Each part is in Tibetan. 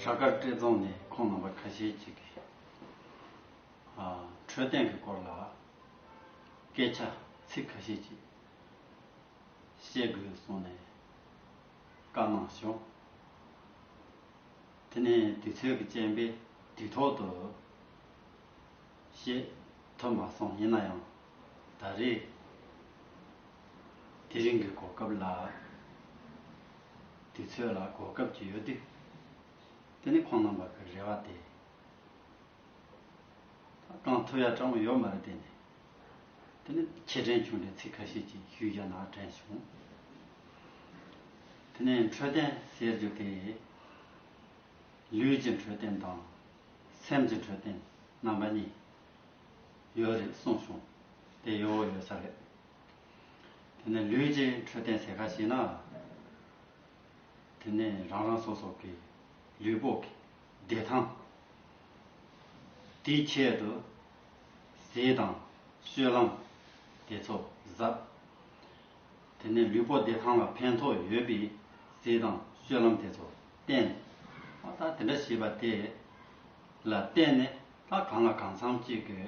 བྲག་དཀར་སྤྲེལ་རྫོང་ནས་ཁོང་རྣམ་པ་ཁ་ཤས་ཅིག་གིས་འཕྲོད་བསྟེན་གྱི་སྐོར་ལ་སྐད་ཆ་ཚིག་ཁ་ཤས་ཅིག་བཤད་དགོས་གསུངས་ནས་བཀའ་གནང་བྱུང། དེ་ནས་དུས་ཚོད་ཀྱི་རྐྱེན་པས་དུས་ཐོག་ཏུ་བཤད་ཐུབ་མ་སོང་ཡིན་ན་ཡང་ད་རེས་དེ་རིང་གི་གོ་སྐབས་ལ་དུས་ཚོད་ལ་གོ་སྐབས་ཀྱི་ཡོད་དུས་དེ་ནི་ཁོང་རྣམ་པ་གི་རེ་བ་སྟེ། གང་ཐུབ་ཡ་དྲང་བོ་ཡོད་མ་རེད་དེ་ནི་དེ་ནི་ཁྱེད་དྲན་བྱུང་ནས་ཚིག་ཁ་ཤས་ཅིག་ཞུས་རྒྱ་ན་དྲན་བྱུང། དེ་ནི་འཕྲོད་བསྟེན་ཟེར་རྒྱུ་དེ་ལུས་ཀྱི་འཕྲོད་བསྟེན་དང་སེམས་ཀྱི་འཕྲོད་བསྟེན་རྣམ་པ་གཉིས། ཡོད་རེད་གསུངས་བྱུང། དེ་ཡོད་ཡོད་ས་རེད། དེ་ནས་ལུས་ཀྱི་འཕྲོད་བསྟེན་ཟེར་ག་ཞིག་ན། དེ་ནས་རང་རང་སོ་སོ་གི་ལུས་པོ་གི་བདེ་ཐང་དེའི་ཆེད་དུ་ཟས་དང་སྤྱོད་ལམ་དེ་ཚོ་གཟབ། དེ་ནས་ལུས་པོ་བདེ་ཐང་ལ་ཕན་ཐོགས་ཡོད་པའི་ཟས་དང་སྤྱོད་ལམ་དེ་ཚོ་བསྟེན། ད་དེ་འདྲ་བྱས་པ་དེ་ལ་བརྟེན་ནས། ལྷ་གང་ལ་གང་འཚམ་གཅིག་གི་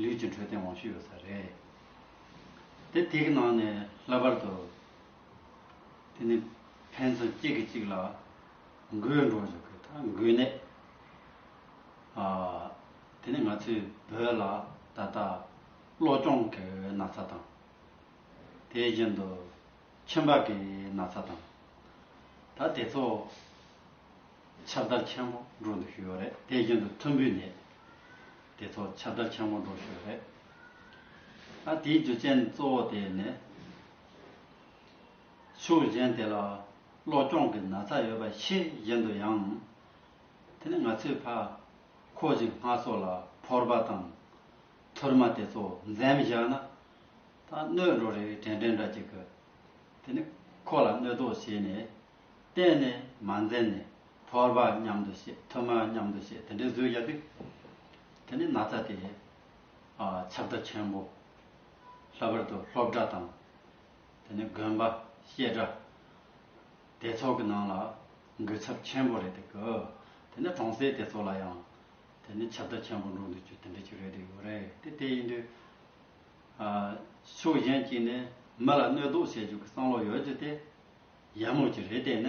ལུས་ཀྱི་འཕྲོད་བསྟེན་དབང་ཤུགས་ཡོད་ས་རེད། དེ་དེ་གི་ནང་ནས་ལྷག་པར་དུ་དེ་ནི་ཕན་ཚུན་གཅིག་གིས་གཅིག་ལ་འགོས་འགྲོ་བཞིན་གི་ད་འགོས་ནད་དེ་ནི་ང་ཚོའི་བོད་ལ་ད་ལྟ་གློ་གཅོང་གི་ན་ཚ་དང། དེ་བཞིན་དུ་ཁྱིམ་བག་གི་ན་ཚ་དང། ད་དེ་ཚོ་ཁྱབ་བརྡལ་ཆེན་མོ་འགྲོ་འདུག་ཞུས་ཡོད་རེད་དེའི་རྒྱུན་དུ་ཐུམ་འབུའི་ནད་དེ་ཚོ་ཁྱབ་བརྡལ་ཆེན་མོ་འགྲོ་ཞུས་ཡོད་རེད། ཨ་དེའི་རྒྱུ་རྐྱེན་གཙོ་བོ་དེ་ནི། ཕྱུགས་གཞན་དེ་ལ་གློ་གཅོང་གི་ན་ཚ་ཡོད་པ་ཕྱིས་གཞན་དུ་ཡང། དེ་ནི་ང་ཚོའི་ཕ་ཁོ་གཞིག་སྔ་སོ་ལ་ཕོར་པ་དང་ཐུར་མ་དེ་ཚོ་འཛེམ་བཞག་ན། ད་གནོད་འགྲོ་རེ་བྲེལ་འབྲེལ་འདྲ་གཅིག་གི། དེ་ནི་ཁོ་ལ་གནོད་དོ་ཞེས་ནས། གཏན་ནས་མ་འཛེམས་ནས་ཕོར་པ་མཉམ་དུ་བྱེད་ཐུར་མ་མཉམ་དུ་བྱེད་དེ་འདྲའི་བཟོས་ཀྱང་འགྲིག། དེ་ནི་ན་ཚ་དེས་ཁྱབ་བརྡ་ཆེན་པོ། ལྷག་པར་དུ་ལྷོ་བྲག་དང་དེ་ནི་དགོན་པ་བཤད་གྲྭ་དེ་ཚོ་གི་ནང་ལ་འགུལ་ཚབས་ཆེན་པོ་རེད་འདུག་གི། དེ་ནི་གྲོང་གསེབ་དེ་ཚོ་ལ་ཡང་དེ་ནི་ཁྱབ་བརྡ་ཆེན་པོ་འགྲོ་འདུག་ཅུ་དེ་འདྲ་ཅིག་རེད་འདུག་ཡོད་རེད་དེ་དེ་ཡིན་དུས། ཕྱོགས་གཞན་གཅིག་ནས་མི་ལ་གནོད་དོགས་བྱེད་རྒྱུ་གི་བསམ་བློ་ཡོད་རྒྱུ་དེ། ཡར་མོ་ཅི་རེད་བལྟས་ན།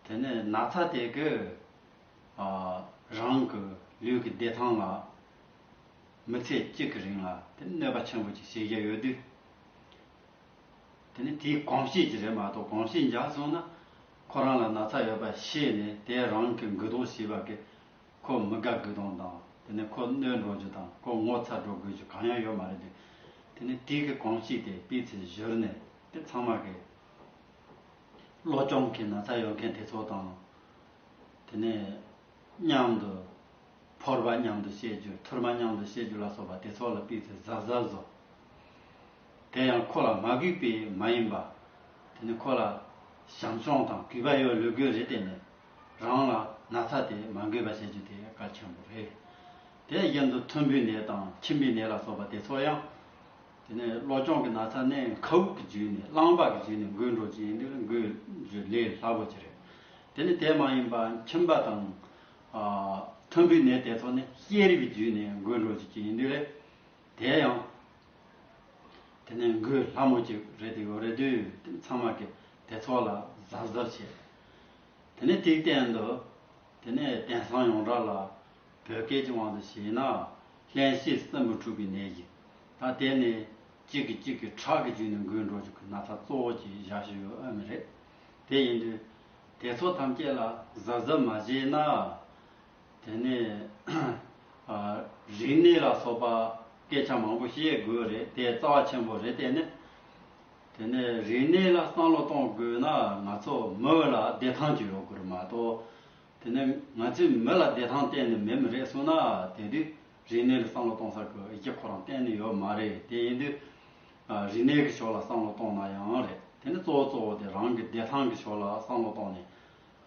དེ་ནས་ན་ཚ་དེ་གི་རང་གི་ལུས་ཀྱི་བདེ་ཐང་ལ་མི་ཚེ་གཅིག་གི་རིང་ལ་དེ་གནོད་པ་ཆེན་པོ་ཅིག་བྱེད་ཀྱི་ཡོད་དུས། དེ་ནས་དེའི་གོམས་གཤིས་ཀྱི་རེད་མ་གཏོགས་གོམས་གཤིས་འཇགས་སོང་ན་ཁོ་རང་ལ་ན་ཚ་ཡོད་པ་ཤེས་ནས་དེ་རང་གི་འགུལ་སྡོང་བྱས་པ་གིས་ཁོ་མི་དགའ་འགུལ་སྡོང་དང་དེ་ནས་ཁོ་གནོད་འགྲོ་རྒྱུ་དང་ཁོ་ངོ་ཚ་འགྲོ་དགོས་རྒྱུ་གང་ཡང་ཡོད་མ་རེད་དུས། དེ་ནས་དེའི་གི་གོམས་གཤིས་དེ་སྤིས་ཚེ་བཞུར་ནས། དེ་ཚང་མ་རེད། བློ་སྐྱོང་གི་ན་ཚ་ཡོད་མཁན་དེ་ཚོ་དང། དེ་ནས་མཉམ་དུ་ཕོར་པ་མཉམ་དུ་བཤད་རྒྱུ་ཐུར་མ་མཉམ་དུ་བཤད་རྒྱུ་ལ་སོགས་པ་དེ་ཚོ་ལ་པིག་ཚེ་གཟབ་གཟབ་བཟོ། དེ་ཡང་ཁོ་ལ་མ་གུས་པས་མ་ཡིན་པ། དེ་ནི་ཁོ་ལ་བྱམས་སྐྱོང་དང་གུས་པ་ཡོད་ལུས་དགོས་རེད་དེ་ནི་རང་ལ་ན་ཚ་དེ་མ་འགོས་པ་བྱེད་རྒྱུ་དེ་གལ་ཆེན་པོ་རེད། དེ་གཞན་དུ་ཐུམ་བུའི་ནད་དང་མཆིན་པའི་ནད་ལ་སོགས་པ་དེ་ཚོ་ཡང། དེ་ནས་བློ་སྦྱོང་གི་ན་ཚ་གནས་མཁའ་དབུགས་ཀྱི་རྒྱུད་ནས་གླང་འབག་གི་རྒྱུད་ནས་འགུལ་འགྲོ་ཅིང་འདི་ནི་འགུལ་རྒྱུ་ལས་སླ་པོ་ཅི་རེད། དེ་ནི་དེ་མ་ཡིན་པ་མཁྱིན་པ་དང། ཐུམ་འབུའི་ནད་དེ་ཚོ་ནི་ཤེས་རིག་གི་རྒྱུད་ནས་འགུལ་འགྲོ་ཅིག་ཅིག་འདི་རེད། དེ་ཡང། དེ་ནི་འགུལ་སླ་མོ་ཅིག་རེད་དེ་ཡོད་རེད་དུས་ཚང་མ་གི་དེ་ཚོ་ལ་གཟབ་གཟབ་བྱེད། དེ་ནི་ཐིག་བསྟན་དུ། དེ་ནི་དེང་སང་ཡོངས་གྲགས་ལ་བོད་སྐད་ཀྱི་དབང་དུ་བྱས་ན། གླེན་བཤེས་སྲིན་འབུ་འཁྲུགས་པའི་ནད་ཀྱི། ད་དེ་ནི། གཅིག་གིས་གཅིག་གི་ཁྲག་གི་རྒྱུན་ནི་འགུལ་འགྲོ་རྒྱུ་གི་ན་ཚ་གཙོ་བོ་གྱི་བཞག་ཤོས་ཡོད་ཨེ་མི་རེད། དེ་ཡིན་དུས། དེ་ཚོ་ཐམས་ཅད་ལ་གཟབ་གཟབ་མ་བྱས་ན། དེ་ནི། རིག་གནས་ལ་སོགས་པ་སྐད་ཆ་མང་པོ་བཤད་དགོས་རེད་དེ་རྩ་བ་ཆེན་པོ་རེད་དེ་ནི། དེ་ནི་རིག་གནས་ལ་བསམ་བློ་གཏོང་དགོས་ན་ང་ཚོ་མོས་ལ་བདེ་ཐང་གྱི་ཡོང་དགོས་རེད་མ་གཏོགས། དེ་ནས་ང་ཚོས་མི་ལ་བདེ་ཐང་གཏན་ནས་མེད་མི་རེད་གསུངས་ན་དེ་དུས་རིག་གནས་ལ་བསམ་བློ་གཏོང་ས་ཀྱི་ཡི་གེ་ཁོ་རང་གཏན་ནས་ཡོད་མ་རེད་དེ་ཡིན་དུས། རིག་གནས་ཀྱི་ཕྱོགས་ལ་བསམ་བློ་གཏོང་ན་ཡང་རེད་དེ་ནས་གཙོ་བོ་གཙོ་བོ་དེ་རང་གི་བདེ་ཐང་གི་ཕྱོགས་ལ་བསམ་བློ་གཏོང་ནས།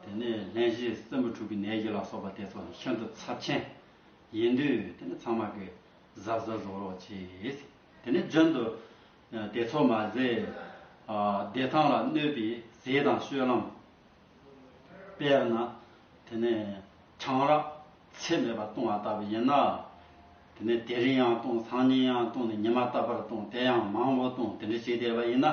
དེ་ནས་ལྷན་སྐྱེས་སྲིན་བུ་དྲུག་གི་ནད་གཞི་ལ་སོགས་པ་དེ་ཚོ་ནི་ཤིན་ཏུ་ཚབས་ཆེན་ཡིན་དུས་དེ་ནི་ཚང་མ་གི་གཟབ་གཟབ་བཟོ་རོགས་བྱེད། དེ་ནས་རྒྱུན་དུ་དེ་ཚོ་མ་ཟད། བདེ་ཐང་ལ་གནོད་པའི་ཟས་དང་སྤྱོད་ལམ། དཔེར་ན། དེ་ནས་ཆང་རག་ཚད་མེད་པ་བཏུང་བ་ལྟ་བུ་ཡིན་ན། དེ་ནས་དེ་རིང་ཡང་བཏུང་སང་ཉིན་ཡང་བཏུང་ནས་ཉི་མ་ལྟ་བུར་བཏུང་དེ་ཡང་མང་བོ་བཏུང་དེ་འདྲ་བྱས་བསྡད་པ་ཡིན་ན།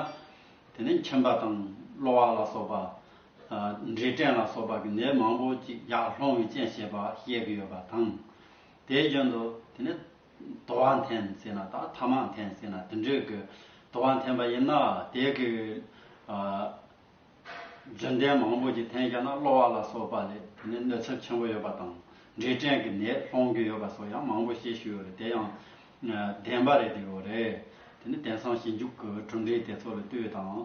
དེ་ནས་ཁྱིམ་པ་དང་གློ་བ་ལ་སོགས་པ། འབྲས་སྐྲན་ལ་སོགས་པ་གི་ནད་མང་བོ་ཅིག་ཡར་སློང་བའི་རྐྱེན་བྱེད་པ་བཤད་ཀྱི་ཡོད་པ་དང། དེའི་རྒྱུན་དུ་དེ་ནས་དུ་བ་འཐེན་ཟེར་ན་དང་ཐ་མག་འཐེན་ཟེར་ན་དེ་འདྲའི་གི་དུ་བ་འཐེན་པ་ཡིན་ན་དེ་གི་རྒྱུན་ལྡན་མང་པོ་ཞིག་འཐེན་རྒྱག་ན་གློ་བ་ལ་སོགས་པ་ལས་དེ་ནས་གནོད་ཚབས་ཆེན་པོ་ཡོད་པ་དང་འབྲས་སྐྲན་གྱི་ནད་སློང་རྒྱུ་ཡོད་པ་སོགས་ཡང་མང་པོ་བཤད་ཞུས་ཡོད་རེད་དེ་ཡང་བདེན་པ་རེད་ཡོད་རེད། དེ་ནི་དེང་སང་ཞིབ་འཇུག་གི་གྲུབ་འབྲས་དེ་ཚོ་ལ་ལྟོས་དང།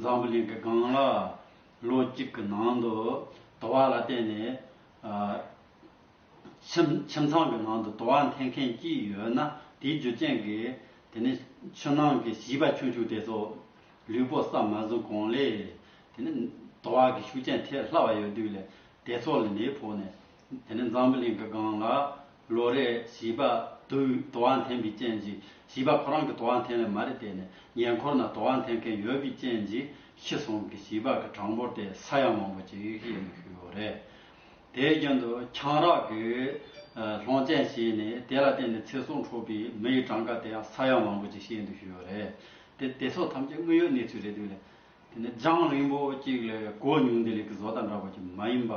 འཛམ་བུ་གླིང་གི་སྒང་ལ་ལོ་གཅིག་གི་ནང་དུ་དུ་བ་ལ་བརྟེན་ནས། ཁྱིམ་ཁྱིམ་ཚང་གི་ནང་དུ་དུ་བ་འཐེན་མཁན་གཅིག་ཡོད་ན་དེའི་རྒྱུ་རྐྱེན་གྱིས་དེ་ནི་ཆུ་ནང་གི་བྱིས་པ་ཆུང་ཆུང་དེ་ཚོ་ལུས་པོ་སྲ་མ་ཟིན་གོང་ལས་དེ་ནི་དུ་བ་གི་ཤུགས་རྐྱེན་ཐེབས་སླ་བ་ཡོད་དུས་ལས་དེ་ཚོ་ལ་ནད་ཕོག་ནས་དེ་ནི་འཛམ་བུ་གླིང་གི་སྒང་ལ་ལོ་རེར་བྱིས་པ་དུས་དུ་བ་འཐེན་པའི་རྐྱེན་གྱིས་བྱིས་པ་ཁོ་རང་གི་དུ་བ་འཐེན་ལེ་མ་རེད་བལྟས་ནས་ཉེ་འཁོར་ན་དུ་བ་འཐེན་མཁན་ཡོད་པའི་རྐྱེན་གྱིས་ཤི་སོང་གི་བྱིས་པ་གི་གྲངས་འབོར་དེ་ས་ཡ་མང་པོ་ཅིག་ཡོད་ཡོད་རེད། དེའི་རྒྱུན་དུ་ཆང་རག་གི་ལྷོང་ཅན་བྱས་ནས་དེ་ལ་བརྟེན་ནས་ཚེ་སྲོག་འཕྲོག་པའི་མི་ཡི་གྲངས་ཀ་དེའང་ས་ཡ་མང་པོ་ཅིག་བཤད་འདུག་ཞུས་པ་རེད། དེ་དེ་ཚོ་ཐམས་ཅད་དངོས་ཡོད་གནས་ཚུལ་རེད་འདུག་ལ། དེ་ནི་རྒྱང་རིང་པོ་ཅིག་ལས་གོ་མྱོང་བདེ་ལེགས་ཀྱི་བཟོ་ལྟ་འདྲ་བོ་ཅིག་མ་ཡིན་པ།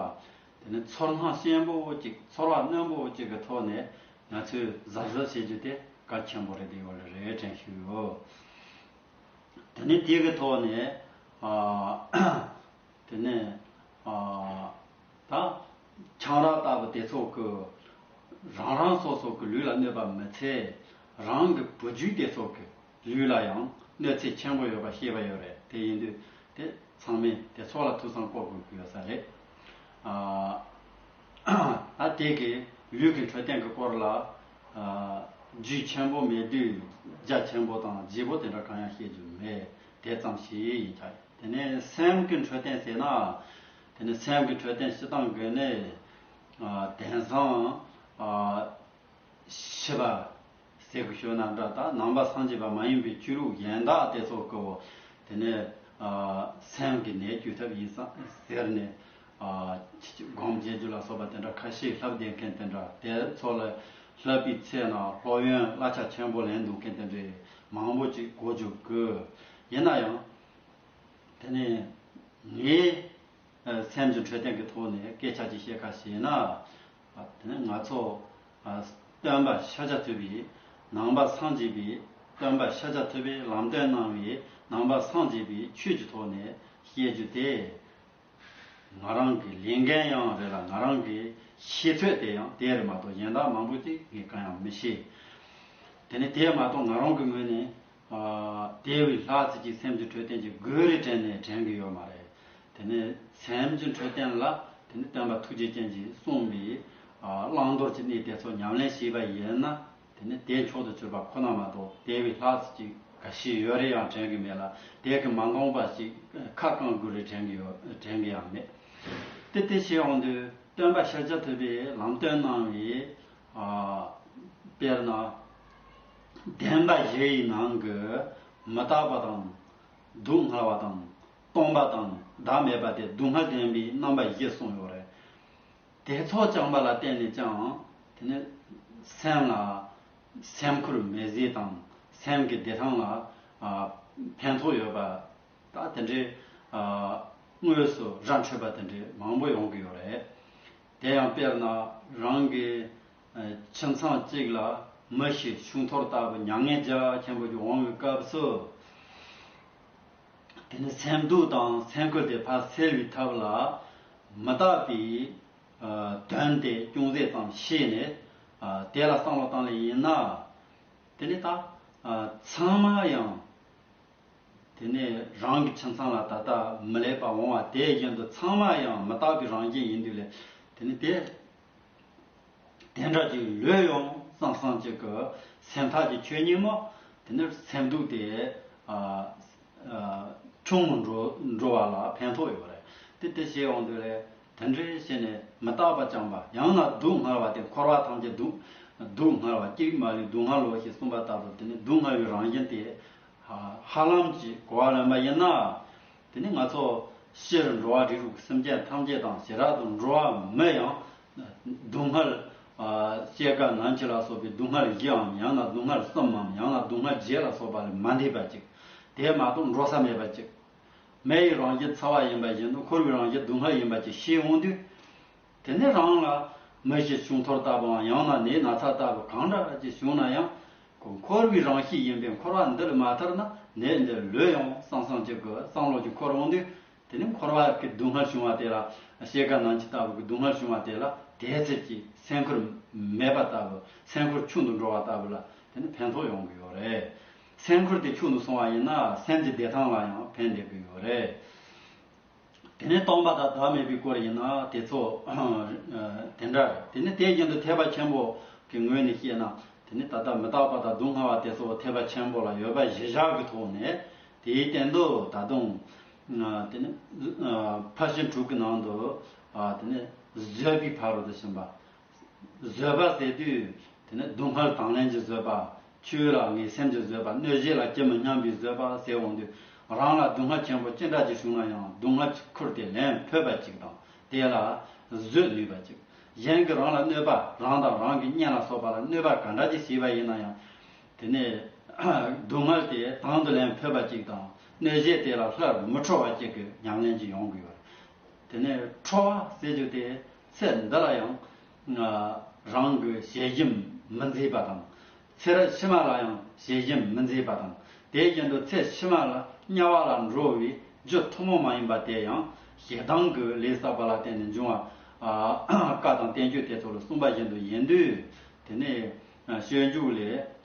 དེ་ནི་ཚོར་སྣང་ཞན་པོ་ཅིག་ཚོར་བ་རྣོན་པོ་ཅིག་གི་ཐོག་ནས་ང་ཚོས་གཟབ་གཟབ་བྱེད་རྒྱུ་དེ་གལ་ཆེན་པོ་རེད་འདུག་ཡོད་ལ་རེད་དྲན་ཞུས་ཡོད། དེ་ནི་དེའི་ཐོག་ནས། དེ་ནས་དང། ཆང་རག་ལྟ་བུ་དེ་ཚོགས་ཀྱི། རང་རང་སོ་སོ་གྱི་ལུས་ལ་གནོད་པ་མི་འཚལ། རང་གི་བུ་རྒྱུད་དེ་ཚོགས་ཀྱི་ལུས་ལ་ཡང་གནོད་འཚེ་ཆེན་པོ་ཡོད་པ་ཤེས་པ་ཡོད་རེད་དེ་ཡིན་དུས་དེ་ཚང་མས་དེ་ཚོགས་ལ་ཐུགས་བསམ་བསྐོ་དགོས་ཀྱི་ཡོད་ས་རེད། ད་དེ་གི་ལུས་ཀྱི་འཕྲོད་བསྟེན་གྱི་སྐོར་ལ། རྒྱུད་ཆེན་པོ་མེད་དུས་རྒྱ་ཆེན་པོ་དང་རྗེས་པོ་དེ་འདྲ་གང་ཡང་བཤད་རྒྱུ་མེད། དེ་ཙམ་ཞིག་ཡིན་ཆ་ཡོད། དེ་ནས་སེམས་ཀྱི་འཕྲོད་བསྟེན་ཟེར་ན། དེ་ནི་སེམས་ཀྱི་འཕྲོད་བསྟེན་ཞེ་སྡང་གི་ནི། དེང་སང། ཤི་བ། ཟས་ཀྱི་ཞོ་ནམ་དྲག་དང་ནང་པ་སངས་རྒྱས་པ་མ་ཡིན་པའི་བཅུད་རུག་གཞན་དག་དེ་ཚོ་ཀིའོ། དེ་ནི། སེམས་ཀྱི་ནད་བཅོས་ཐབས་ཡིན་ཟེར་ནས། སྒོམ་འབྱེད་རྒྱུད་ལ་སོགས་པ་དེ་འདྲ་ཁ་ཤས་ལྷབ་བསྡད་མཁན་དེ་འདྲ་དེ་ཚོ་ལ། ལྷབ་པའི་ཚེ་ན་སློབ་ཡོན་གླ་ཆ་ཆེན་པོ་ལེན་འདུག་མཁན་དེ་འདྲའི། མང་པོ་ཅིག་གོ་འཇོག་དགོས། ཡིན་ན་ཡང། དེ་ནི། ངའི། སེམས་ཀྱི་འཕྲོད་བསྟེན་གྱི་ཐོག་ནས་སྐད་ཆ་ཅིག་བཤད་ཁ་ཞེ་ན། དེ་ནི་ང་ཚོ། སྟོན་པ་ཤཱཀྱ་ཐུབ་པས་ནང་པ་སངས་རྒྱས་པའི། སྟོན་པ་ཤཱཀྱ་ཐུབ་པས་ལམ་སྟོན་གནང་བའི་ནང་པ་སངས་རྒྱས་པའི་ཆོས་ཀྱི་ཐོག་ནས་བཤད་རྒྱུ་དེ། ང་རང་གི་ལས་འགན་ཡང་རེད་ལ་ང་རང་གི་ཤེས་ཚོད་དེ་ཡང་དེ་རེད་མ་གཏོགས་གཞན་དག་མང་པོ་ཅིག་ངས་གང་ཡང་མི་ཤེས། དེ་ནས་དེ་མ་གཏོགས་ང་རང་གི་ངོས་ནས། དེ་འི་ལྷག་རྩེ་གཅིག་སེམས་ཀྱི་འཕྲོད་བསྟེན་གྱི་གོས་རེ་དྲན་ནས་དྲན་གི་ཡོད་མ་རེད། དེ་ནས་སེམས་ཀྱི་འཕྲོད་བསྟེན་ལ་དེ་ནས་སྟོན་པ་ཐུགས་རྗེ་ཅན་གྱིས་གསུངས་པའི། བླང་དོར་གྱི་གནས་དེ་ཚོ་ཉམས་ལེན་བྱས་པ་ཡིན་ན། དེ་ནི་དེའི་མཆོག་ཏུ་གྱུར་པ་ཁོ་ན་མ་གཏོགས་དེ་བས་ལྷག་ཅིག་ག་ཞིག་ཡོད་རེ་ཡང་དྲན་གྱི་མེད་ལ་དེ་གི་མ་འགོངས་པ་ཞིག་ཁ་བསྐང་དགོས་རེ་དྲན་གྱི་ཡོད་དྲན་གྱི་ཡང་མེད། དེ་སྟེ་ཞེས་འོང་དུས་སྟོན་པ་ཤཱཀྱ་ཐུབ་པས་ལམ་སྟོན་གནང་བའི། དཔེར་ན། བདེན་པ་བཞི་ཡི་ནང་གི་མི་རྟག་པ་དང། སྡུག་བསྔལ་བ་དང། སྟོང་པ་དང་བདག་མེད་པ་སྟེ་སྡུག་བསྔལ་བདེན་པའི་རྣམ་པ་བཞི་གསུངས་ཡོད་རེད། དེ་ཚོགས་བསྐྱངས་པ་ལ་བརྟེན་ནས་ཀྱང་དེ་ནི་སེམས་ལ་སེམས་ཁུར་མེད་རྫས་དང་སེམས་ཀྱི་བདེ་ཐང་ལ་ཕན་ཐོགས་ཡོད་པ་ད་དེ་འདྲའི་དངོས་སུ་ར་འཕྲོད་པ་དེ་འདྲའི་མང་པོ་ཡོང་གི་ཡོད་རེད། དེ་ཡང་དཔེར་ན་རང་གི་ཁྱིམ་ཚང་གཅིག་ལ་མི་ཞིག་ཆུང་ཐོར་ལྟ་བུ་མྱ་ངན་རྒྱ་ཆེན་པོ་ཞིག་འོང་བའི་སྐབས་སུ། དེ་ནི་སེམས་སྡུག་དང་སེམས་ཁུར་དེ་ཕར་སེལ་བའི་ཐབས་ལ་མི་བལྟ་བའི་དོན་དེ་ཅུང་ཟད་ཙམ་ཤེས་ནས་དེ་ལ་བསམ་བློ་བཏང་ལེ་ཡིན་ན། དེ་ནི་ད་ཚང་མ་ཡང་དེ་ནི་རང་གི་ཁྱིམ་ཚང་ལ་ད་ལྟ་མི་ལེགས་པ་འོང་བ་དེ་བཞིན་དུ་ཚང་མ་ཡང་མི་རྟག་པའི་རང་བཞིན་ཡིན་དུས་ལས་དེ་ནི་དེ་དེ་འདྲ་ཅིག་ལོས་ཡོང་བསམ་བསམ་ཅིག་གི་སེམས་ཐག་གི་ཆོད་ཉིན་མོ་དེ་ནི་སེམས་སྡུག་དེ་ཆུང་ངུ་འགྲོ་བ་ལ་ཕན་ཐོགས་ཡོད་རེད་དེ་དེ་བྱས་འོང་དུས་ལས་དེ་འདྲའི་བྱས་ནས་མི་རྟག་པ་རྐྱང་པ་ཡང་ན་སྡུག་བསྔལ་བ་དེ་འཁོར་བ་ཐམས་ཅད་སྡུག་སྡུག་བསྔལ་བ་གཅིག་མ་ལུས་སྡུག་བསྔལ་ལོ་ཞེས་གསུངས་པ་ལྟར་དུ་དེ་ནི་སྡུག་བསྔལ་བའི་རང་བཞིན་དེ་ཧ་ལམ་གྱིས་གོ་བ་ལོན་པ་ཡིན་ན། དེ་ནི་ང་ཚོ་ཕྱིར་འགྲོ་བ་རིགས་དྲུག་གི་སེམས་ཅན་ཐམས་ཅད་དང་ཞེ་དྲག་ཏུ་འགྲོ་བ་མོད་ཡང། སྡུག་བསྔལ། བཅས་དགའ་ན་འཆི་ལ་སོགས་པའི་སྡུག་བསྔལ་བཞིའམ་ཡང་ན་སྡུག་བསྔལ་གསུམའམ་ཡང་ན་སྡུག་བསྔལ་བརྒྱད་ལ་སོགས་པ་ལས་མ་འདས་པ་ཅིག། དེས་མ་གཏོགས་འགྲོ་ས་མེད་པ་ཅིག། མེ་ཡི་རང་བཞིན་ཚ་བ་ཡིན་པ་བཞིན་དུ་འཁོར་བའི་རང་བཞིན་སྡུག་བསྔལ་ཡིན་པ་ཅིག་ཤེས་འོང་དུས། དེ་ནས་རང་ལ་མི་བཞི་བྱུང་འཐོར་ལྟ་བུའམ་ཡང་ན་ནད་ན་ཚ་ལྟ་བུ་གང་འདྲ་ཅིག་བྱུང་ན་ཡང། ཁོ་འཁོར་བའི་རང་གཤིས་ཡིན་པས་འཁོར་བ་འདི་ལ་མ་ཐར་ན་ནད་འདི་ལུས་ཡང་སང་སང་ཅིག་གི་སང་ལོག་ཅིག་འཁོར་འོང་དུས། དེ་ནས་འཁོར་བ་གི་སྡུག་བསྔལ་བྱུང་བ་དེ་ལ་ཤེལ་དཀར་ནང་གཅིག་ལྟ་བུ་གི་སྡུག་བསྔལ་བྱུང་བ་དེ་ལ་དེའི་ཚེ་ཀྱི་སེམས་ཁུར་མེད་པ་ལྟ་བུ་སེམས་ཁུར་ཆུང་དུ་འགྲོ་བ་ལྟ་བུ་ལ་དེ་ནི་ཕན་ཐོགས་ཡོང་གི་ཡོད་རེད། སེམས་ཁུར་དེ་ཆུང་དུ་སོང་བ་ཡིན་ན་སེམས་ཀྱི་བདེ་ཐང་ལ་ཡང་ཕན་འདེགས་ཀྱི་ཡོད་རེད། དེ་ནི་སྟོང་པ་དང་བདག་མེད་པའི་སྐོར་ཡིན་ན་དེ་ཚོ། དེ་འདྲ་རེད་དེ་ནི་དེ་བཞིན་དུ་ཐེག་པ་ཆེན་པོ། གི་ངོས་ནས་བཤད་ན། དེ་ནི་ད་ལྟ་མི་རྟག་པ་དང་སྡུག་བསྔལ་བ་དེ་ཚོ་ཐེག་པ་ཆེན་པོ་ལ་ཡོད་པ་གཞི་བཞག་གི་ཐོག་ནས། དེའི་སྟེང་དུ་ད་དུང། དེ་ནི། ཕར་ཕྱིན་དྲུག་གི་ནང་དུ། དེ་ནི་བཟོད་པའི་ཕ་རོལ་ཏུ་ཕྱིན་པ། བཟོད་པ་ཟེར་དུས་དེ་ནི་སྡུག་བསྔལ་དང་ལེན་གྱི་བཟོད་པ། ཆུའི་རང་ངེས་སེམས་ཀྱི་བཟོད་པ་གནོད་བྱེད་ལ་ཅི་མི་སྙམ་པའི་བཟོད་པ་ཟེར་འོང་དུས་རང་ལ་སྡུག་བསྔལ་ཆེན་པོ་ཅི་འདྲ་ཅིག་བྱུང་ན་ཡང་སྡུག་བསྔལ་གྱི་ཁུར་དེ་ལེན་ཕོད་པ་ཅིག་དང་དེ་ལ་བཟོད་ནུས་པ་ཅིག་གཞན་གྱིས་རང་ལ་གནོད་པ་རང་དང་རང་གི་གཉེན་ལ་སོགས་པ་ལ་གནོད་པ་ག་འདྲ་ཅིག་བྱས་པ་ཡིན་ན་ཡང་དེ་ནི་སྡུག་བསྔལ་དེ་དང་དུ་ལེན་ཕོད་པ་ཅིག་དང་གནོད་བྱེད་དེ་ལ་སླར་མི་འཕྲོ་བ་ཅིག་གི་ཉམས་ལེན་གྱིས་ཡོང་དགོས་པར་དེ་ནི་འཕྲོ་བ་ཟེར་རྒྱུ་དེ་ཚེ་འདི་ལ་ཡང་རང་གི་ཞལ་ཞེམ་མི་མཛེས་པ་དང། ཚེ་རབས་ཕྱི་མ་ལ་ཡང་ཞལ་ཞེམ་མི་མཛེས་པ་དང། དེའི་རྐྱེན་དུ་ཚེ་ཕྱི་མ་ལ་དམྱལ་བ་ལ་འགྲོ་བའི་རྒྱུ་ཐུན་མོང་མ་ཡིན་པ་དེ་ཡང་ཞེ་སྡང་གི་ལས་བསགས་པ་ལ་བརྟེན་ནས་འབྱུང་བ། བཀའ་དང་བསྟན་བཅོས་དེ་ཚོ་ལ་གསུངས་པ་བཞིན་དུ་ཡིན་དུས། དེ་ནས་ཤོད་འཇུག་ལས་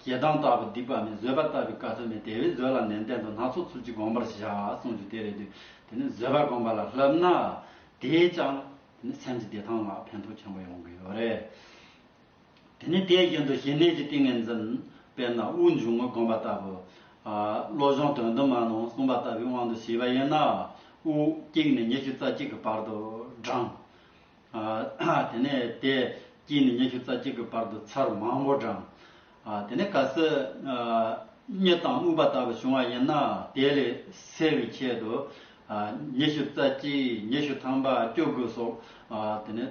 ཞེ་སྡང་ལྟ་བུ་སྡིག་པ་མེད་བཟོད་པ་ལྟ་བུའི་བཀའ་སྲོལ་མེད་དེ་བས་བཟོད་ལ་ནན་ཏན་དུ་སྣ་ཚོགས་ཚུལ་གྱིས་དགོངས་པར་བྱ་གསུངས་རྒྱུ་དེ་རེད་དུས་དེ་ནས་བཟོད་པ་དགོངས་པ་ལ་བསླབ་ན་དེས་ཀྱང་དེ་ནི་སེམས་ཀྱི་བདེ་ཐང་ལ་ཕན་ཐོགས་ཆེན་པོ་ཡོང་གི་ཡོད་རེད། དེ་ནི་དེ་བཞིན་དུ་ཞི་གནས་ཀྱི་ཏིང་ངེ་འཛིན། དཔེར་ན་དབུགས་འབྱུང་ངོ་བསྒོམ་པ་ལྟ་བུ། བློ་སྦྱོང་དོན་དུ་མ་ནོར་གསུངས་པ་ལྟ་བུའི་དབང་དུ་བྱས་པ་ཡིན་ན། དབུགས་དཀྱིལ་ནས་ཉི་ཤུ་རྩ་གཅིག་གི་བར་དུ་བགྲང། དེ་ནས་དེ་དཀྱིལ་ནས་ཉི་ཤུ་རྩ་གཅིག་གི་བར་དུ་ཚར་མང་བོ་བགྲང། དེ་ནས་ག་སྲིད་རྙེད་དང་དམིགས་པ་ལྟ་བུ་བྱུང་བ་ཡིན་ན་དེ་ལས་སེལ་བའི་ཆེད་དུ། ཉི་ཤུ་རྩ་གཅིག་ཉི་ཤུ་ཐམ་པ་བསྐྱོད་དགོས་སོགས་དེ་ནས་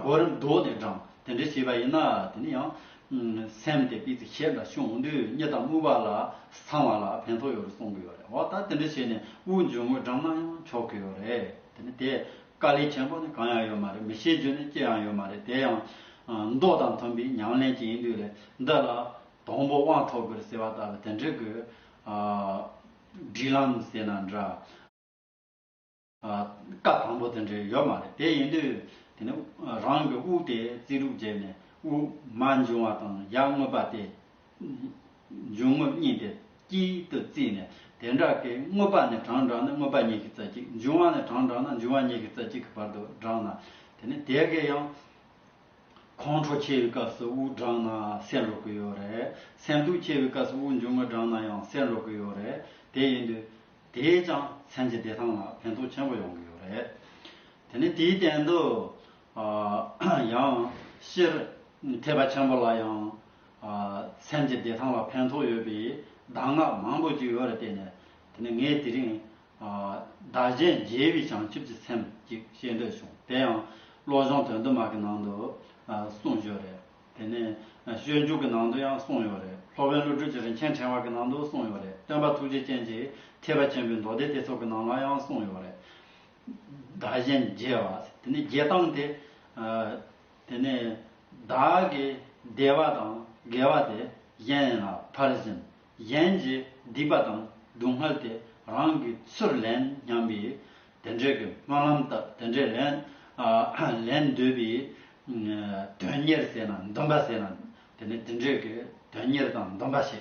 གོ་རིམ་བསྒྲོགས་ནས་བགྲང་དེ་འདྲས་བྱས་པ་ཡིན་ན་དེ་ནས་ཡང་སེམས་དེ་སྤེལ་ཚེ་ཞེ་འདྲ་བྱུང་དུས་རྙེད་དང་དམིགས་པ་ལ་ཚང་བ་ལ་ཕན་ཐོགས་ཡོད་རེད་གསུང་གི་ཡོད་རེད་འོ་ད་དེ་འདྲས་བྱས་ནས་དབུགས་འབྱུང་ངོས་བགྲང་ན་ཡང་ཆོག་གི་ཡོད་རེད་དེ་ནས་དེ། དཀའ་ལས་ཆེན་པོ་ནི་གང་ཡང་ཡོད་མ་རེད་མི་ཤེས་རྒྱུ་ནི་ཅི་ཡང་ཡོད་མ་རེད་དེ་ཡང། མདོག་དང་མཐུན་པའི་ཉམས་ལེན་ཅིག་ཡིན་དུས་ལས་འདི་ལ། དང་པོ་དབང་ཐོབ་དགོས་ཟེར་བ་ལྟ་བུ་དེ་འདྲའི་དགོས། སྒྲིག་ལམ་ཟེར་ན་འདྲ། བཀའ་དང་པོ་དེ་འདྲའི་ཡོད་མ་རེད་དེ་ཡིན་དུས། དེ་ནི་རང་གི་དབུགས་དེ་རྩིས་ལུགས་བརྗེས་ནས་དབུགས་མ་འབྱུང་བ་དང་ཡར་བསྔོས་པ་སྟེ། འབྱུང་ངོ་གཉིས་ཏེ་དཀྱིལ་དུ་བརྩིས་ནས་དེ་འདྲ་ཀའི་དངོས་པ་ནས་གྲངས་བགྲངས་ན་དངོས་པ་ཉིད་ཀྱི་རྩ་གཅིག་འབྱུང་བ་ནས་གྲངས་བགྲངས་ན་འབྱུང་བ་ཉིད་ཀྱི་རྩ་གཅིག་གི་བར་དུ་བགྲངས་ན་དེ་ནི་དེ་གའི་ཡང། ཁོང་ཁྲོ་ཆེ་བའི་སྐབས་སུ་དབུགས་བགྲངས་ན་སེལ་འགྲོ་གི་ཡོད་རེད། སེམས་སྡུག་ཆེ་བའི་སྐབས་སུ་དབུགས་འབྱུང་ངོ་བགྲངས་ན་ཡང་སེལ་འགྲོ་གི་ཡོད་རེད། དེ་ཡིན་དུས། དེས་ཀྱང་སེམས་ཀྱི་བདེ་ཐང་ལ་ཕན་ཐོགས་ཆེན་པོ་ཡོང་གི་ཡོད་རེད། དེ་ནི་དེའི་སྟེང་དུ། ཡང། ཕྱིར། ཐེག་པ་ཆེན་པོ་ལ་ཡང། མཚན་གྱི་བདེ་ཐང་ལ་ཕན་ཐོགས་ཡོད་པའི་གདམས་ངག་མང་པོ་ཅིག་ཡོད་རེད་བལྟས་ནས་དེ་ནས་ངས་དེ་རིང། བདག་གཞན་རྒྱལ་བའི་བྱང་ཆུབ་ཀྱི་སེམས་ཅིག་བཤད་འདོད་བྱུང་དེ་ཡང་བློ་སྦྱོང་དོན་དུ་མ་གི་ནང་དུ་གསུངས་ཡོད་རེད་དེ་ནས་ཤོད་འཇུག་གི་ནང་དུ་ཡང་གསུངས་ཡོད་རེད་སློབ་དཔོན་ཀླུ་སྒྲུབ་ཀྱི་རིན་ཆེན་ཕྲེང་བ་གི་ནང་དུ་གསུངས་ཡོད་རེད་སྟོན་པ་ཐུགས་རྗེ་ཅན་གྱི་ཐེག་པ་ཆེན་པོའི་མདོ་སྡེ་སྡེ་ཚོགས་ཀྱི་ནང་ལ་ཡང་གསུངས་ཡོད་རེད་བདག་གཞན་རྒྱལ་བ་དེ་ནས་རྒྱལ་སྟངས་དེ། དེ་ནས་བདག་གི་བདེ་བ་དང་དགེ་བ་དེ་གཞན་ལ་ཕར་ཕྱིན་གཞན་གྱི་སྡིག་པ་དང་སྡུག་བསྔལ་དེ་རང་གི་ཚུར་ལེན་སྙམ་པས་དེ་འདྲའི་གི་སྨོན་ལམ་བཏབ་དེ་འདྲའི་ལན་ལེན་འདོད་པའི་དོན་གཉེར་ཟེར་ན་འདུན་པ་ཟེར་ན་དེ་ནས་དེ་འདྲའི་གི་དོན་གཉེར་དང་འདུན་པ་བྱས་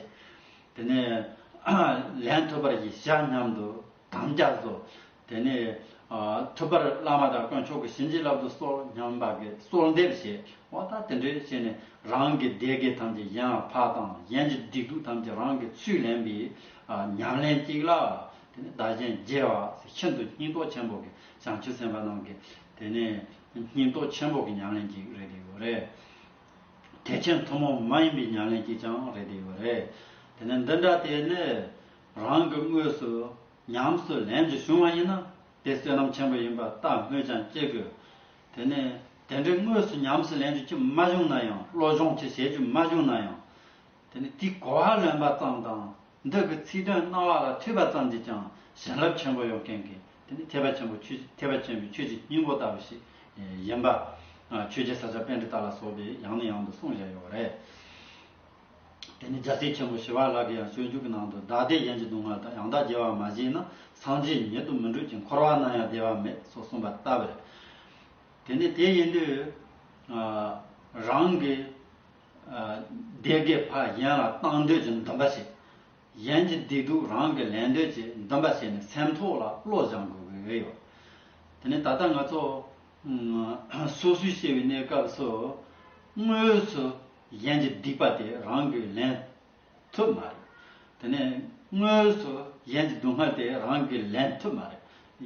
དེ་ནས་ལན་ཐོབ་པར་གྱིས་ཤག་སྙམ་དུ་དམ་བཅའ་བཟོ། དེ་ནས། ཐུབ་པར་བླ་མ་དང་དཀོན་མཆོག་གི་བྱིན་གྱིས་བརླབ་ཏུ་གསོལ་སྙམ་པ་གྱིས་གསོལ་འདེབས་བྱས་བ་དང་དེ་འདྲའི་བྱས་ནས་རང་གི་བདེ་དགེ་ཐམས་ཅད་ཡང་བག་དང་གཞན་གྱི་སྡིག་སྡུག་ཐམས་ཅད་རང་གི་ཚུལ་ལེན་པའི་ཉམས་ལེན་གཅིག་ལ། དེ་ནས་བདག་གཞན་རྒྱལ་བ་ཤིན་ཏུ་སྙིང་སྟོབས་ཆེན་པོ་གི་བྱང་ཆུབ་སེམས་དཔའ་རྣམས་ཀྱི། དེ་ནས། སྙིང་སྟོབས་ཆེན་པོ་གི་ཉམས་ལེན་གཅིག་རེད་དེ་ཡོད་རེད། ཐེག་ཆེན་ཐུན་མོང་མ་ཡིན་པའི་ཉམས་ལེན་གཅིག་ཀྱང་རེད་དེ་ཡོད་རེད། དེ་ནས་འདི་འདྲ་དེ་ནི། རང་གི་དངོས་སུ་ཉམས་སུ་ལེན་དུ་བྱུང་བ་ཡིན་ན་དེ་བསོད་ནམས་ཆེན་པོ་ཡིན་པར་བལྟ་སྨོས་ཀྱང་བསྐྱེད་དགོས། དེ་ནས་དེ་འདྲའི་དངོས་སུ་ཉམས་སུ་ལེན་རྒྱུ་ཅི་མ་བྱུང་ན་ཡང་བློ་སྦྱོང་ཅི་བྱེད་རྒྱུ་མ་བྱུང་ན་ཡང། དེ་ནས་དེའི་གོ་བ་ལོན་པ་ཙམ་དང་འདི་གི་ཚིག་དོན་སྣང་བ་ལ་ཐོས་པ་ཙམ་གྱིས་ཀྱང་བྱིན་རླབས་ཆེན་པོ་ཡོང་མཁན་གྱི་དེ་ནི་ཐེག་པ་ཆེན་པོ་ཆོས་ཀྱི་ཐེག་པ་ཆེན་པོའི་ཆོས་ཀྱི་སྙིང་པོ་ལྟ་བུ་ཞིག་ཡིན་པ། ཆོས་རྒྱལ་ས་སྐྱ་དཔལ་འབྲི་སྟག་ལ་སོགས་པས་ཡང་ནས་ཡང་དུ་གསུངས་བཞག་ཡོད་པ་རེད། དེ་ནས་རྒྱལ་སྲས་ཆེན་པོ་ཞི་བ་ལགས་ཀྱི་ཡང་སྤྱོད་འཇུག་གི་ནང་དུ་བདག་བདེ་གཞན་གྱི་སྡུག་བསྔལ་དང་ཡང་དག་རྒྱལ་བ་མ་བྱིན་ན་སངས་རྒྱས་ཉིད་དུ་མི་འགྲུབ་ཅིང་འཁོར་བ་ན་ཡང་བདེ་བ་མེད་སོགས་གསུངས་པ་ལྟ་བུ་རེད། དེ་ནས་དེ་ཡིན་དུས། རང་གི་སྡེ་དགེ་བ་གཞན་ལ་བཏང་འདོད་ཀྱི་འདུན་པ་བྱེད། གཞན་གྱི་བདེ་སྡུག་རང་གིས་ལེན་འདོད་ཀྱི་འདུན་པ་བྱེད་ནས་སེམས་ཐོག་ལ་བློ་སྦྱང་དགོས་ཀྱི་ཡོད། དེ་ནས་ད་ལྟ་ང་ཚོ་སོ་སོའི་ཤེས་པའི་གནས་སྐབས་སུ་དངོས་སུ་གཞན་གྱི་སྡིག་པ་དེ་རང་གིས་ལེན་ཐུབ་མ་རེད། དེ་ནས་དངོས་སུ་གཞན་གྱི་སྡུག་བསྔལ་དེ་རང་གིས་ལེན་ཐུབ་མ་རེད།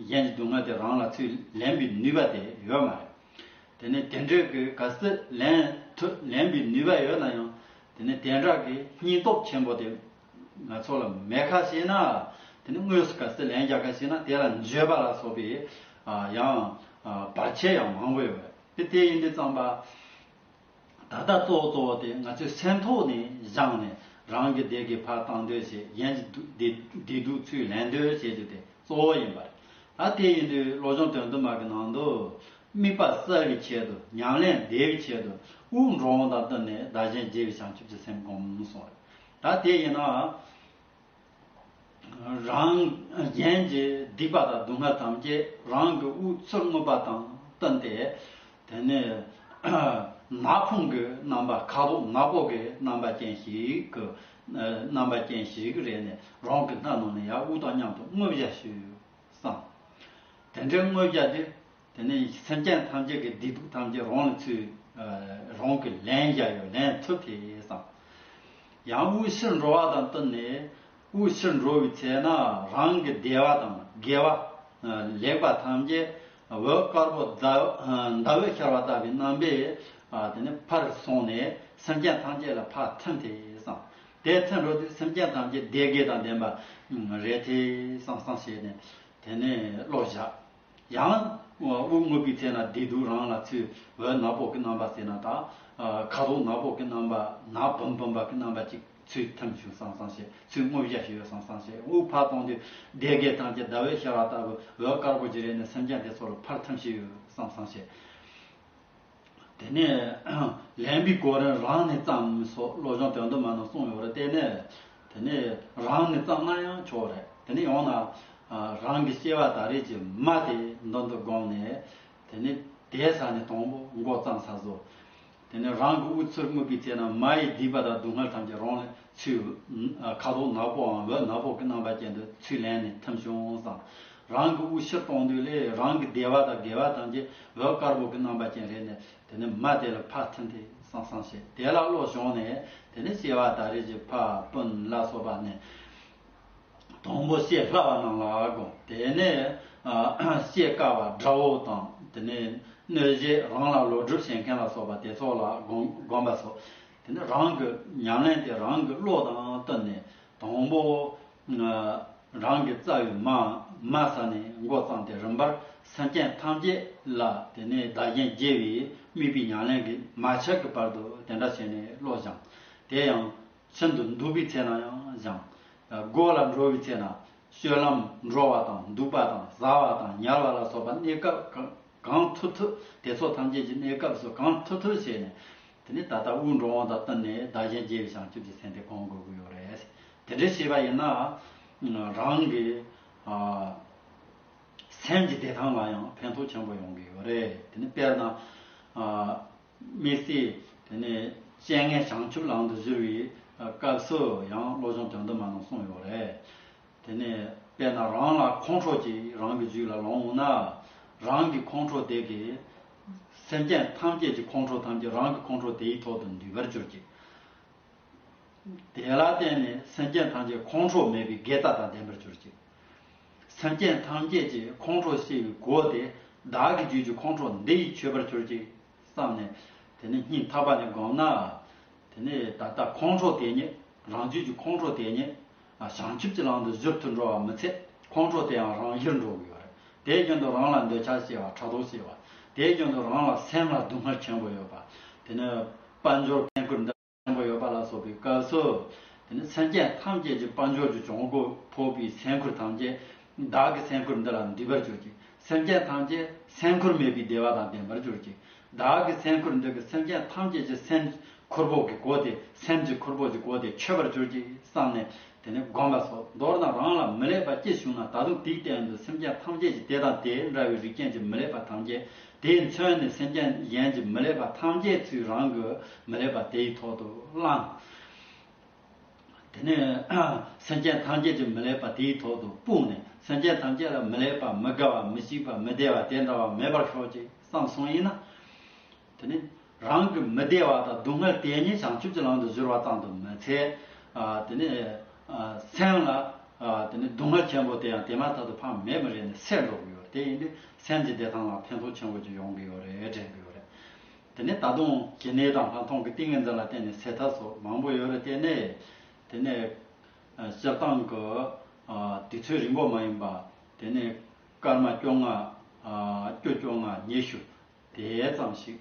གཞན་གྱི་སྡུག་བསྔལ་དེ་རང་ལ་ཚུལ་ལེན་པའི་ནུས་པ་དེ་ཡོད་མ་རེད། དེ་ནས་དེ་འདྲས་ཀྱི་ག་ཚུལ་ལེན་ཐུབ་ལེན་པའི་ནུས་པ་ཡོད་ན་ཡང་དེ་ནས་དེ་འདྲ་གི་སྙིང་སྟོབས་ཆེན་པོ་དེ་ང་ཚོ་ལ་མེད་ཁ་ཤེས་ན་དེ་ནས་དངོས་སུ་ག་ཚུལ་ལེན་རྒྱག་ཁ་ཤེས་ན་དེ་ལ་འགྱོད་པ་ལ་སོགས་པའི་ཡང་བར་ཆད་ཡང་མང་པོ་ཡོད་པ་རེད། དེ་ཡིན་དུས་ཙམ་པ། ད་ལྟ་གཙོ་བོ་གཙོ་བོ་དེ་ང་ཚོས་སེམས་ཐོག་ནས་བཞག་ནས་རང་གི་སྡེ་དགེ་བར་བཏང་འདོད་བྱེད་གཞན་གྱི་སྡེ་སྡུག་ཚུལ་ལེན་འདོད་བྱེད་རྒྱུ་དེ་གཙོ་བོ་ཡིན་པ་རེད། ད་དེ་ཡིན་དུས་བློ་སྦྱོང་དོན་དུ་མ་གི་ནང་དུ། དམིགས་པ་གསལ་བའི་ཆེད་དུ་ཉམས་ལེན་བདེ་བའི་ཆེད་དུ་དབུགས་འགྲོ་འོང་དང་བསྟུན་ནས་བདག་གཞན་བརྗེ་བའི་བྱང་ཆུབ་ཀྱི་སེམས་བསྒོམ་སོང་རེད། ད་དེ་ཡིན་ན། རང་གཞན་གྱི་སྡིག་པ་དང་སྡུག་བསྔལ་ཐམས་ཅད་རང་གི་དབུ་གཙུག་རྔུབ་པ་དང་བསྟུན་ཏེ། དེ་ནས་ན་ཕུང་གི་རྣམ་པ་ཁ་དོག་ནག་པོ་གི་རྣམ་པ་ཅན་ཞིག་གི་རྣམ་པ་ཅན་ཞིག་རེག་ནས་རང་གི་སྣ་ནང་ནས་ཡང་དབུགས་དང་མཉམ་དུ་རྔུབ་བྱ་ཞིག་བསམ། དེ་འདྲའི་རྔུབ་བྱ་དེ། དེ་ནས་སེམས་ཅན་ཐམས་ཅད་ཀྱི་བདེ་སྡུག་ཐམས་ཅད་རང་ལ་ཚུད། རང་གིས་ལན་བརྒྱ་ཡོད་ལན་ཐུབ་དེས་བསམ། ཡང་དབུལ་ཕྱིར་འགྲོ་བ་དང་བསྟུན་ནས་དབུལ་ཕྱིར་འགྲོ་བའི་ཚེ་ན་རང་གི་སྡེ་བ་དང་དགེ་བ། ལེགས་པ་ཐམས་ཅད་འོད་དཀར་པོ་ཟླ་འོད་ཤར་བ་ལྟ་བུའི་རྣམ་པས་དེ་ནས་ཕར་སོང་ནས་སེམས་ཅན་ཐམས་ཅད་ལ་ཕར་ཐིམ་དེས་བསམ། དེས་ཐིམ་འགྲོ་དུས་སེམས་ཅན་ཐམས་ཅད་བདེ་དགེ་དང་ལྡན་པ་རེད་དེས་བསམ་བསམ་བྱས་ནས་དེ་ནས་བློ་བཞག། ཡང་དབུགས་རྔུབ་པའི་ཚེ་ན་བདེ་སྡུག་རང་ལ་ཚུད་འོད་ནག་པོ་གི་རྣམ་པ་སེར་ནག་དང། ཁ་དོག་ནག་པོ་གི་རྣམ་པ་ནག་བུམ་བུམ་པ་གི་རྣམ་པ་ཅིག་ཚུད་ཐིམ་ཞུགས་སང་སང་བྱེད་ཚུད་རྔུབ་བཞག་བྱེད་འོད་སང་སང་བྱེད་དབུགས་ཕར་གཏོང་དུས་བདེ་དགའི་གཏམ་གྱི་ཟླ་བའི་ཤར་བ་ལྟ་བུ་འོད་དཀར་པོ་གྱི་རས་ནས་སེམས་ཅན་དེ་ཚོ་ལ་ཕར་ཐིམ་ཞུགས་འོད་སང་སང་བྱེད། དེ་ནས་ལན་པའི་སྐོར་རན་རང་ནས་བརྩམས་སོགས་བློ་སྦྱོང་དོན་དུ་མ་རྣམས་གསུངས་ཡོད་པར་བལྟས་ནས། དེ་ནས་རང་ནས་བརྩམས་ན་ཡང་ཆོག་རེད་དེ་ནས་ཡང་ན། རང་གི་སྐྱེ་བ་ད་རེས་ཀྱི་མ་དེ་མདུན་དུ་དགོངས་ནས། དེ་ནས་དེའི་ས་ནས་དང་པོ་མགོ་བརྩམས་ས་བཟོ། དེ་ནས་རང་གི་དབུ་ཚུར་སྨུག་པའི་ཚེ་ན་མ་ཡི་སྡིག་པ་དང་སྡུག་བསྔལ་ཐམས་ཅད་རང་ལས་ཆུའི་ཁ་དོག་ནག་པོའམ་འོད་ནག་པོ་གི་རྣམ་པ་ཅན་དུ་ཚུར་ལེན་ནས་ཐིམ་བྱུང་བསམ། རང་གི་དབུགས་ཕྱིར་གཏོང་དུས་ལས་རང་གི་བདེ་བ་དང་དགེ་བ་དང་བཅས་འོད་དཀར་པོ་གི་རྣམ་པ་ཅན་རེ་ནས་དེ་ནས་མ་དེ་ལ་ཕ་ཐིན་ཐིན་སང་སང་བྱེད་དེ་ལ་བློ་ཞོག་ནས་དེ་ནས་སྐྱེ་བ་དག་རིགས་ཀྱི་ཕ་སྤུན་ལ་སོགས་པ་ནས། དང་པོ་ཤེས་སླ་བ་རྣམས་ལ་དགོངས་དེ་ནས་ཤེས་དཀའ་བ་དགྲ་བོ་དང་དེ་ནས་གནོད་བྱེད་རང་ལ་ལོག་སྒྲུབ་བྱེད་མཁན་ལ་སོགས་པ་དེ་ཚོ་ལ་དགོངས་པ་སོགས་དེ་ནས་རང་གི་ཉམས་ལེན་དེ་རང་གི་བློ་དང་བསྟུན་ནས་དང་པོ། རང་གི་རྩ་བའི་མ་མ་ས་ནས་མགོ་བརྩམས་ཏེ་རིམ་པར་སེམས་ཅན་ཐམས་ཅད་ལ་དེ་ནས་བདག་རྐྱེན་རྒྱས་པའི་དམིགས་པའི་ཉམས་ལེན་གྱི་མ་ཆག་གི་བར་དུ་དེ་འདྲ་བྱས་ནས་བློ་སྦྱངས། དེ་ཡང། ཤིན་ཏུ་འདུག་པའི་ཚེ་ན་ཡང་སྦྱངས། སྒོ་ལ་འགྲོ་བའི་ཚེ་ན། སྤྱོད་ལམ་འགྲོ་བ་དང་འདུག་པ་དང་བཟའ་བ་དང་ཉལ་བ་ལ་སོགས་པ་གནས་སྐབས་གང་ཐུབ་ཐུབ་དེ་ཚོ་ཐམས་ཅད་ཀྱི་གནས་སྐབས་སུ་གང་ཐུབ་ཐུབ་བྱས་ནས། དེ་ནས་ད་ལྟ་དབུགས་འགྲོ་འོང་དང་བསྟུན་ནས་བདག་རྐྱེན་རྒྱས་པའི་བྱང་ཆུབ་ཀྱི་སེམས་དེ་གང་དགོས་ཀྱི་ཡོད་རེད། དེ་འདྲའི་བྱས་པ་ཡིན་ན། རང་གི་སེམས་ཀྱི་བདེ་ཐང་ལ་ཡང་ཕན་ཐོགས་ཆེན་པོ་ཡོང་གི་ཡོད་རེད། དེ་ནི་དཔེར་ན། དམིགས་བསལ་དེ་ནི་སྤྱན་སྔའི་བྱང་ཆུབ་ལམ་དུ་བཞུར་བའི་སྐབས་སུ་ཡང་བློ་སྦྱོང་དོན་དུ་མ་གནང་གསུངས་ཡོད་རེད། དེ་ནི་དཔེར་ན་རང་ལ་ཁོང་ཁྲོ་ཅིག་རང་གི་རྒྱུད་ལ་ལོང་འོངས་ན། རང་གི་ཁོང་ཁྲོ་དེ་གིས། སེམས་ཅན་ཐམས་ཅད་ཀྱི་ཁོང་ཁྲོ་ཐམས་ཅད་རང་གི་ཁོང་ཁྲོ་དེའི་ཐོག་ཏུ་འདུས་པར་གྱུར་ཅིག། དེ་ལ་བརྟེན་ནས་སེམས་ཅན་ཐམས་ཅད་ཁོང་ཁྲོ་མེད་པའི་དགེ་རྩ་དང་ལྡན་པར་གྱུར་ཅིག། སེམས་ཅན་ཐམས་ཅད་ཀྱི་ཁོང་ཁྲོ་སེལ་བའི་སྒོ་དེ་བདག་གི་རྒྱུད་ཀྱི་ཁོང་ཁྲོ་འདི་ཡིས་ཆོད་པར་གྱུར་ཅིག་བསམས་ནས། དེ་ནས་སྙིང་ཐག་པ་ནས་བསྒོམས་ན། དེ་ནས་ད་ལྟ་ཁོང་ཁྲོ་དེ་ཉིད་རང་རྒྱུད་ཀྱི་ཁོང་ཁྲོ་དེ་ཉིད་བྱང་ཆུབ་ཀྱི་ལམ་དུ་གཟུར་དུ་འགྲོ་བ་མི་འཚལ། ཁོང་ཁྲོ་དེའང་རང་ཡིར་འགྲོ་དགོས་པ་རེད། དེའི་རྐྱེན་དུ་རང་ལ་འདོད་ཆགས་སྐྱེ་བ་ཕྲག་དོག་སྐྱེ་བ། དེའི་རྐྱེན་དུ་རང་ལ་སེམས་ལ་སྡུག་བསྔལ་ཆེན་པོ་ཡོད་པ། དེ་ནི་དཔལ་འབྱོར་འཕེན་ཁུར་འདི་ཆེན་པོ་ཡོད་པ་ལ་སོགས་པའི་སྐབས་སུ། དེ་ནི་སེམས་ཅན་ཐམས་ཅད་ཀྱི་དཔལ་འབྱོར་གྱི་གྱོང་གུད་ཕོག་པའི་སེམས་ཁུར་ཐམས་ཅད་བདག་གི་སེམས་ཁུར་འདི་ལ་འདུས་པར་གྱུར་ཅིང་སེམས་ཅན་ཐམས་ཅད་སེམས་འཁོར་མེད་པའི་བདེ་བ་དང་ལྡན་པར་གྱུར་ཅིག། བདག་གི་སེམས་འཁོར་འདོད་པའི་སེམས་ཅན་ཐམས་ཅད་ཀྱི་སེམས་འཁོར་བོགས་ཀྱི་གོ་དེ་སེམས་ཀྱི་འཁོར་བོགས་ཀྱི་གོ་དེ་མཆོད་པར་གྱུར་ཅིག་བསམས་ནས་དེ་ནས་བསྒོམ་པ་སོགས་མདོར་ན་རང་ལ་མི་ལེགས་པ་སྐྱེ་བྱུང་ན་ད་དུང་དེའི་སྟེང་དུ་སེམས་ཅན་ཐམས་ཅད་ཀྱི་དེ་དང་དེ་འདྲ་བའི་རིགས་ཅན་གྱི་མི་ལེགས་པ་ཐམས་ཅད་དེས་མཚོན་ནས་སེམས་ཅན་གཞན་གྱི་མི་ལེགས་པ་ཐམས་ཅད་ཚུལ་རང་གི་མི་ལེགས་པ་དེའི་ཐོག་ཏུ་བླངས། དེ་ནས་སེམས་ཅན་ཐམས་ཅད་ཀྱི་མི་ལེགས་པ་དེའི་ཐོག་ཏུ་སྤུངས་ནས་སེམས་ཅན་ཐམས་ཅད་ལ་མི་ལེགས་པ་མི་དགའ་བ་མི་སྐྱིད་པ་མི་བདེ་བ་དེ་འདྲ་བ་མེད་པར་ཤོག་ཅིག་བསམ་གསུངས་ཡིན་ན། དེ་ནས་རང་གི་མི་བདེ་བ་དང་སྡུག་བསྔལ་དེ་ཉིད་བྱང་ཆུབ་ཀྱི་ལམ་དུ་གཞོལ་བ་ཙམ་དུ་མི་འཚལ། དེ་ནས་སེམས་ལ་དེ་ནས་སྡུག་བསྔལ་ཆེན་པོ་དེ་ཡང་དེ་མ་ཐག་ཏུ་ཕངས་མེད་མི་རེད་ནས་སེལ་འགྲོ་གི་ཡོད་རེད་དེ་ཡིན་དུས་སེམས་ཀྱི་བདེ་ཐང་ལ་ཕན་ཐོགས་ཆེན་པོ་ཅིག་ཡོང་གི་ཡོད་རེད་དྲན་གི་ཡོད་རེད། དེ་ནས་ད་དུང་གྱི་ནད་དང་ལྷག་མཐོང་གི་ཏིང་ངེ་འཛིན་ལ་བརྟེན་ནས་ཟད་ཐབས་སོགས་མང་པོ་ཡོད་རེད་བལྟས་ནས། དེ་ནས། སྤྱིར་བཏང་གི། དུས་ཚོད་རིང་པོ་མ་ཡིན་པ། དེ་ནས། སྐར་མ་བཅོ་ལྔ། སྐྱོ་བཅོ་ལྔ་ཉི་ཤུ། དེ་ཙམ་ཞིག།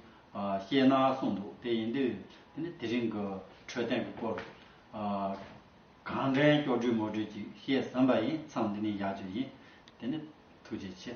སྐྱེས་ན་གསུངས་འདུག་དེ་ཡིན་དུས། དེ་ནས་དེ་རིང་གི། འཕྲོད་བསྟེན་གྱི་སྐོར། གང་དྲན་སྐྱོ་དྲུད་མོ་དྲུད་ཅིག་བཤད་ཟིན་པ་ཡིན་མཚམས་འདི་ནས་ཡག་བྱོས་ཡིན། དེ་ནས། ཐུགས་རྗེ་ཆེ།